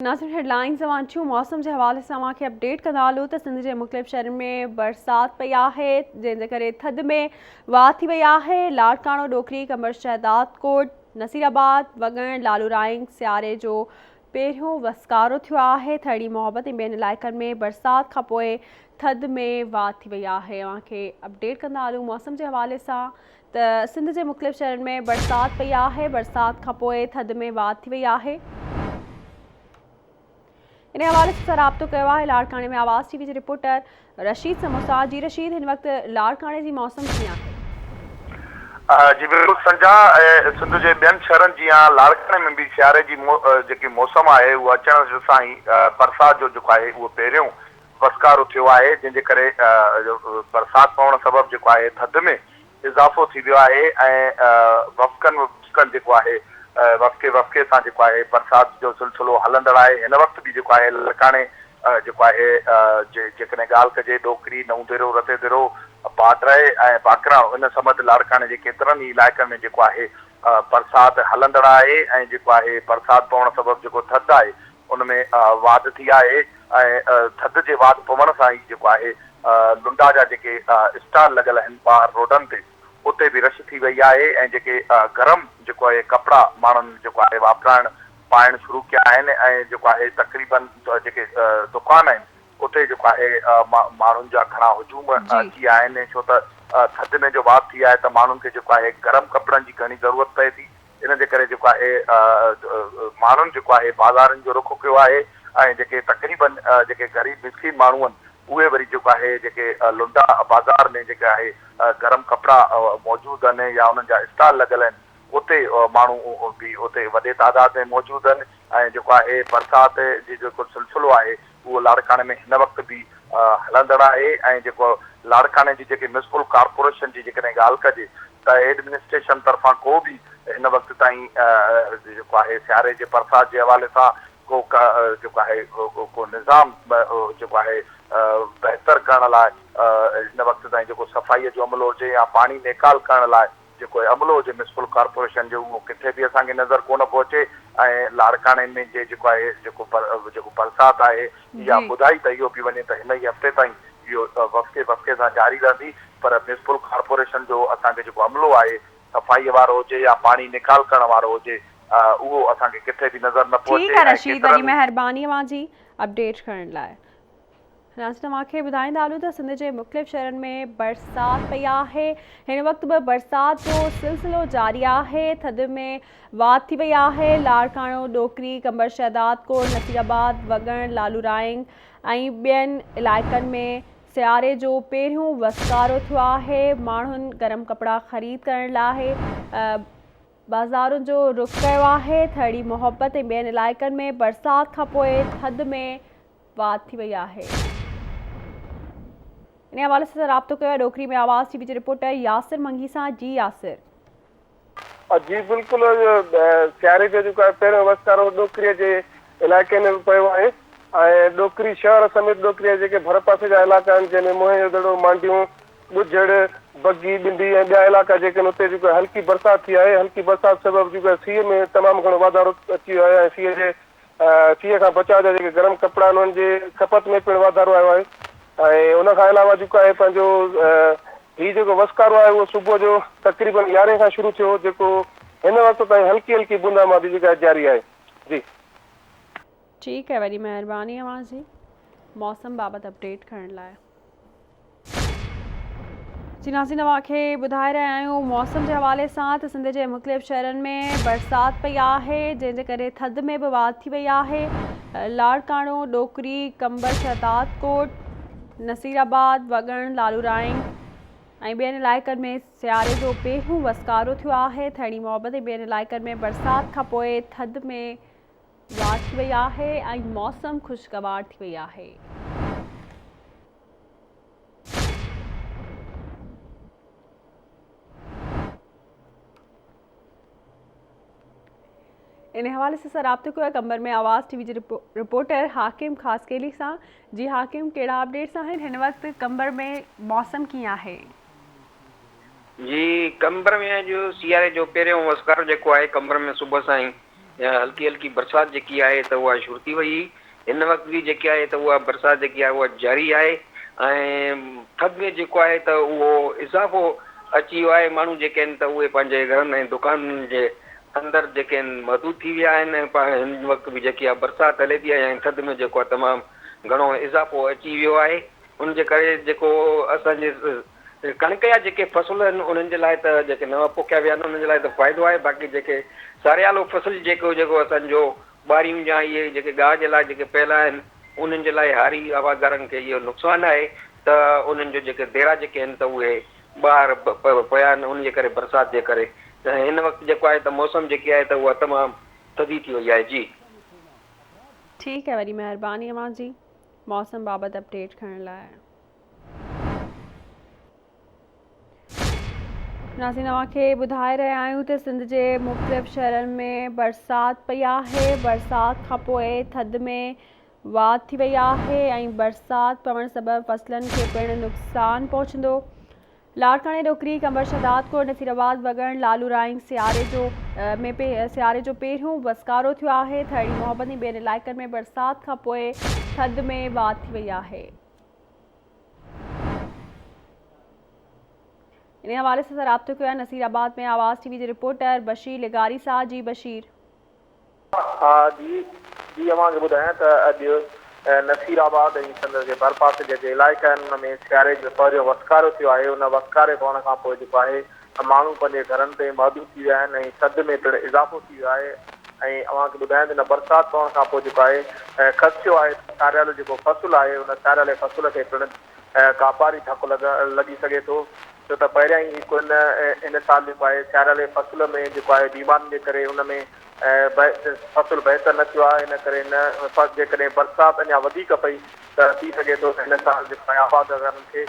ناظرين هيڊلائينز اوهان ٿيون موسم جي حوالي سان اوهان کي اپڊيٽ ڪندا هلون ته سنڌ جي مختلف شهرن ۾ برسات پئي آهي جنهن جي ڪري ٿڌ ۾ واهه ٿي وئي آهي لاڙڪاڻو ڏوڪري قمر شهداد ڪوٽ نصير آباد وڳڻ لالو رائنگ سياري جو پهريون وسڪارو ٿيو آهي ٿهڙي محبت ۽ ٻين علائقن ۾ برسات کانپوء ٿڌ ۾ واهه ٿي وئي آهي اوهان کي اپڊيٽ ڪندا هلون موسم جي حوالي سان ته سنڌ جي مختلف شهرن ۾ برسات پئي آهي برسات کان پوء ٿڌ ۾ واڌ ٿي وئي آهي ان حوالي سان رابطو ڪيو آهي لاڙڪاڻي ۾ آواز ٽي وي جي رپورٽر رشيد سموسا جي رشيد هن وقت لاڙڪاڻي جي موسم ڪيئن آهي جي بلڪل سنجا سنڌ جي ٻين شهرن جيان لاڙڪاڻي ۾ به سياري جي جيڪي موسم آهي اهو اچڻ سان ئي برسات جو جيڪو آهي اهو پهريون وسڪارو ٿيو آهي جنهن جي ڪري برسات پوڻ سبب جيڪو آهي ٿڌ ۾ اضافو ٿي ويو آهي ۽ وفقن وفقن جيڪو آهي وفقي وفقي سان جيڪو آهي برسات جو سلسلو هلندڙ آهي هن وقت به جيڪو آهي لاڙڪاڻي جيڪو آهي جي جيڪڏهن ڳالهه ڪجي ڏوڪري، نئون ديرو، رتي ديرو، باڊري ۽ باکران ان سمت لاڙڪاڻي جي ڪيترن ئي علائقن ۾ جيڪو آهي برسات هلندڙ آهي ۽ جيڪو آهي برسات پوڻ سبب جيڪو ٿڌ آهي ان ۾ واڌ ٿي آهي ۽ ٿڌ جي واڌ پوڻ سان ئي جيڪو آهي لنڊا جا جيڪي اسٽال لڳل آهن ٻاهر روڊن تي اتي به رش ٿي وئي آهي ۽ جيڪي گرم جيڪو آهي ڪپڙا ماڻهن جيڪو آهي واپرائڻ پائڻ شروع ڪيا آهن ۽ جيڪو آهي تقريبن جيڪي دڪان آهن اتي جيڪو آهي ماڻهن جا گهڻا هجوم اچي ويا آهن ڇو ته ٿڌ ۾ جو واڌ ٿي آهي ته ماڻهن کي جيڪو آهي گرم ڪپڙن جي گهڻي ضرورت پئي ٿي ان جي ڪري جيڪو آهي ماڻهن جيڪو آهي بازارن جو رخ ڪيو آهي ۽ جيڪي تقريبن جيڪي غريب مسڪين ماڻهو آهن اهي وري جيڪو آهي جيڪي لنڊا بازار ۾ جيڪي آهي گرم ڪپڙا موجود آهن يا انهن جا اسٽال لڳل آهن اتي ماڻهو به اتي وڏي تعداد ۾ موجود آهن ۽ جيڪو آهي برسات جي جيڪو سلسلو آهي اهو لاڙڪاڻي ۾ هن وقت به هلندڙ آهي ۽ جيڪو لاڙڪاڻي جي جيڪي ميونسپل ڪارپوريشن جي جيڪڏهن ڳالهه ڪجي ته ايڊمنسٽريشن طرفان ڪو به هن وقت تائين جيڪو آهي سياري جي برسات جي حوالي سان ڪو جيڪو آهي ڪو نظام جيڪو آهي بهتر ڪرڻ لاء هن وقت تائين جيڪو صفائي جو عملو هجي يا پاڻي نيڪال ڪرڻ لاء جيڪو هي عملو هجي ميونسپل ڪارپوريشن جو اهو ڪٿي به اسان کي نظر ڪونه پيو اچي ۽ لاڙڪاڻي ۾ جي جيڪو آهي جيڪو بر جيڪو برسات آهي اها جي. ٻڌائي ته اهو پي وڃي ته هن ئي هفتي تائين اهو وسڪي وسڪي سان جاري رهندي پر ميونسپل ڪارپوريشن جو اسان کي جيڪو عملو آهي صفائي وارو هجي يا پاڻي نيڪال ڪرڻ وارو هجي اهو اسان کي ڪٿي به نظر نه پيو اچي ٺيڪ آ رشيد وڏي مهرباني اوهان جي اپڊيٽ ڪرڻ لاء. ناظرين اوهان کي ٻڌائيندا هلون ته سنڌ جي مختلف شهرن ۾ برسات پئي آهي هن وقت به برسات جو سلسلو جاري آهي ٿڌ ۾ واڌ ٿي وئي آهي لاڙڪاڻو ڏوڪري قمبر شهداد ڪوٽ نصير آباد وڳڻ لالو رائينگ ۽ ٻين علائقن ۾ سياري جو پهريون وسڪارو ٿيو آهي ماڻهن گرم ڪپڙا خريد ڪرڻ لاء بازارن جو رخ ڪيو آهي ٿرڙي محبت ۽ ٻين علائقن ۾ برسات کانپوء ٿڌ ۾ وات ٿي وئي آهي انهي حوالي سان رابطو ڪيو آهي ڏوڪري ۾ آواز ٽي وي جي رپورٽر ياسر منگي سان جي ياسر. جي بلڪل سياري جو جيڪو آهي پهريون وسڪارو ڏوڪري جي علائقي ۾ به پيو آهي ۽ ڏوڪري شهر سميت ڏوڪري جا جيڪي ڀر پاسي جا علائقا آهن جنهن ۾ موهن جو دڙو مانڊيون ٻجهڙ بگي ٻنڊي ۽ ٻيا علائقا جيڪي آهن اتي جيڪو هلڪي برسات ٿي آهي هلڪي برسات سبب جيڪو سيء ۾ تمام گهڻو واڌارو اچي ويو آهي ۽ سيء جي سيء کان بچاء جا جيڪي گرم ڪپڙا آهن انهن جي کپت ۾ پڻ واڌارو آيو آهي ۽ ان کان علاوه جيڪو آهي پنهنجو هي جيڪو وسڪارو آهي اهو صبح جو تقريبن يارهين کان شروع ٿيو جيڪو هن وقت تائين هلڪي هلڪي بوندا باندي جيڪا آهي جاري آهي جي. ٺيڪ آهي وڏي مهرباني اوهان جي موسم بابت اپڊيٽ ڪرڻ لاء. جي ناظرين اوهان کي ٻڌائي رهيا آهيون موسم جي حوالي سان ته سنڌ جي مختلف شهرن ۾ برسات پئي آهي جنهن جي ڪري ٿڌ ۾ به واڌ ٿي وئي آهي لاڙڪاڻو ڏوڪري قمبر شهداد ڪوٽ نصير آباد وڳڻ لالورائين ۽ ٻين علائقن ۾ سياري جو پهريون وسڪارو ٿيو آهي ٿهڙي محبت ۽ ٻين علائقن ۾ برسات کانپوء ٿڌ ۾ واڌ ٿي وئي آهي ۽ موسم خوشگوار ٿي وئي آهي ان حوالي سان اسان رابطو ڪيو آهي قمبر ۾ آواز ٽي وي جي رپورٽر حاڪم خاصخيلي سان جي حاڪم ڪهڙا اپڊيٽس آهن هن وقت قمبر ۾ موسم ڪيئن آهي جي قمبر ۾ اڄ سياري جو پهريون وسڪار جيڪو آهي قمبر ۾ صبح سان ئي يا هلڪي هلڪي برسات جيڪي آهي ته اها شرتي وئي هئي، هن وقت به جيڪي آهي ته اها برسات جيڪي آهي اها جاري آهي ۽ ٿڌ ۾ جيڪو آهي ته اهو اضافو اچي ويو آهي، ماڻهو جيڪي آهن ته اهي پنهنجي گهرن ۽ دڪانن جي اندر جيڪي آهن محدود ٿي ويا آهن ۽ هن وقت به جيڪي اها برسات هلي ٿي ۽ ٿڌ ۾ جيڪو آهي تمام گهڻو اضافو اچي ويو آهي، ان جي ڪري جيڪو اسان جي ڪڻڪ جا جيڪي فصل آهن انهن جي لاء ته جيڪي نوان پوکيا ويا آهن انهن جي لاء ته فائدو آهي باقي جيڪي ساريالو فصل جيڪو جيڪو اسان جو ٻاريون جا اهي جيڪي گاهه جي لاء جيڪي پيل آهن انهن جي لاء هاري هوادارن کي اهو نقصان آهي ته انهن جو جيڪي ديرا جيڪي آهن ته اهي ٻاهر پيا آهن ان جي ڪري برسات جي ڪري ته هن وقت جيڪو آهي ته موسم جيڪي آهي ته اها تمام ٿڌي ٿي وئي آهي جي. ٺيڪ آهي وڏي مهرباني اوهان جي موسم بابت اپڊيٽ کڻڻ لاء. ناظرين اوهان کي ٻڌائي رهيا آهيون ته سنڌ جي مختلف شهرن ۾ برسات پئي آهي برسات کان پوء ٿڌ ۾ واڌ ٿي وئي آهي ۽ برسات پوڻ سبب فصلن کي پڻ نقصان پهچندو لاڙڪاڻي ڏوڪري قمبر شهدادڪوٽ نصيرآباد وڳڻ لالورائين سياري جو ۾ سياري جو پهريون وسڪارو ٿيو آهي ٿهڙي محبت ۽ ٻين علائقن ۾ برسات کان پوء ٿڌ ۾ واڌ ٿي وئي آهي انهي حوالي سان رابطو ڪيو آهي نصير آباد ۾ آواز ٽي وي جي رپورٽر بشير لغاري سان جي بشير. ها جي جي اوهان کي ٻڌايان ته اڄ نصير آباد ۽ سندس جي ڀرپاسي جيڪي علائقا آهن ان ۾ سياري جو پهريون وسڪارو ٿيو آهي ان وسڪاري پوڻ کانپوء جيڪو آهي ماڻهو پنهنجي گهرن تائين محدود ٿي ويا آهن ۽ ٿڌ ۾ پڻ اضافو ٿي ويو آهي ۽ اوهان کي ٻڌايان ته هن برسات پوڻ کان پوء جيڪو آهي خدشو آهي ته ساريالو جيڪو فصل آهي ان ساريالي فصل کي پڻ ڪاپاري ڌڪ لڳي سگهي ٿو ڇو ته پهريائين هڪ هن هن سال جيڪو آهي ساريالي فصل ۾ جيڪو آهي بيمارين جي ڪري ان ۾ فصل بهتر نه ٿيو آهي ان ڪري هن جيڪڏهن برسات اڃا وڌيڪ پئي ته ٿي سگهي ٿو ته هن سال جيڪو آهي آبادگارن کي